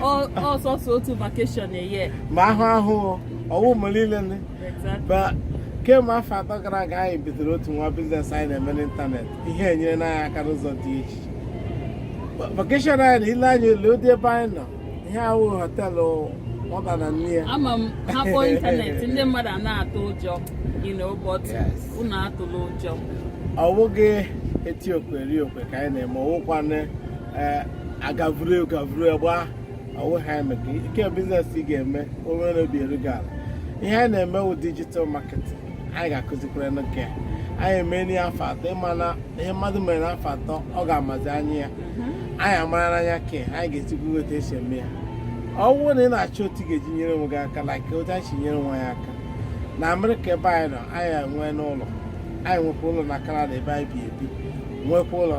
ọ sọsọ otu vacation a year ma ahụ ahụ ọwụ m niile but kemgbe afọ atọ gara aga anyị bidoro otu nwa biznes anyị na-eme n'ịntanetị ihe enyerena anyị aka n'ụzọ dị iche vacation anyị nọ ị lee anya lee ụdị ebe anyị nọ ihe a wụ họtelụ ọba na nne ya ama m a kpọọ ịntanetị ndị mmadụ a na-atụ ụjọ but unu atụla ụjọ ọ bụghị eti okwe eri okwe ka anyị na-eme ọ wụkwa na ee agavuru gavuru gba ọwụ ha emeka ike biznes ị ga-eme onwe gị obi eru gị ala ihe anyị na-eme wụ dijital marketing anyị ga-akụzikwara unu ya anyị emeena ya afọ atọ ị ma na ihe mmadụ mere n'afọ atọ ọ ga-amazi anya ya anyị amarana anya ke anyị ga-ezikwu otu esi eme ya ọ bụrụ na ị na-achọ otu ị ga-eji nyere onwe gị aka like otu anyị si nyere onwe anyị aka na amerịka ebe anyị nọ anyị enweena ụlọ anyị nwekwa ụlọ na kanada ebe anyị bi ebi nwekwa ụlọ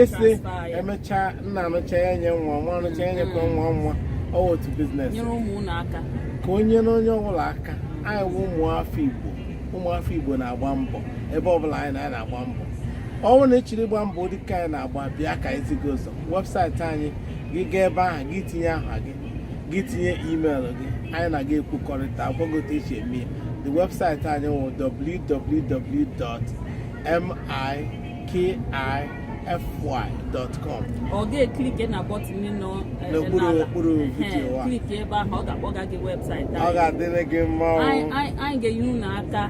esi emechaa nna arụcha ya nye nwa nwa arụcha ya nyekwa nwa nwa ọ otu biznes ka o nyere onye ọbụla aka anyị bụ ụmụafọ Igbo ụmụafọ Igbo na-agba mbọ ebe ọbụla anyị na-anyị na-agba mbọ ọ wụ na ị chọrọ ịgba mbọ dịka anyị na-agba bịa ka anyị zi gị ụzọ webụsaịtị anyị gị gaa ebe ahụ gị tinye aha gị gị tinye email gị anyị na gị ekwukọrịta agwa gị otu eji eme ya the webụsaịtị anyị wụ www.mi kify.com ị ga-eklike na bọtịn nọ eh, n'okpuru okpuru vidiyo a klike ebe ahụ ọ ga-akpọga gị webụsaịtị ọ ga-adịrị gị mma anyị ga-enye unu aka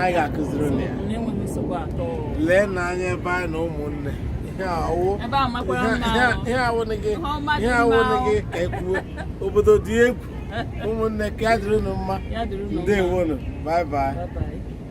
anyị ga-akụziri unu ya na-enweghị nsogbu at all leena anya ebe anyị nọ ụmụnne ihe awụghị ka ekwuo obodo dị egwu ụmụnne ka ya dịrị unu mma ndewonu bye bye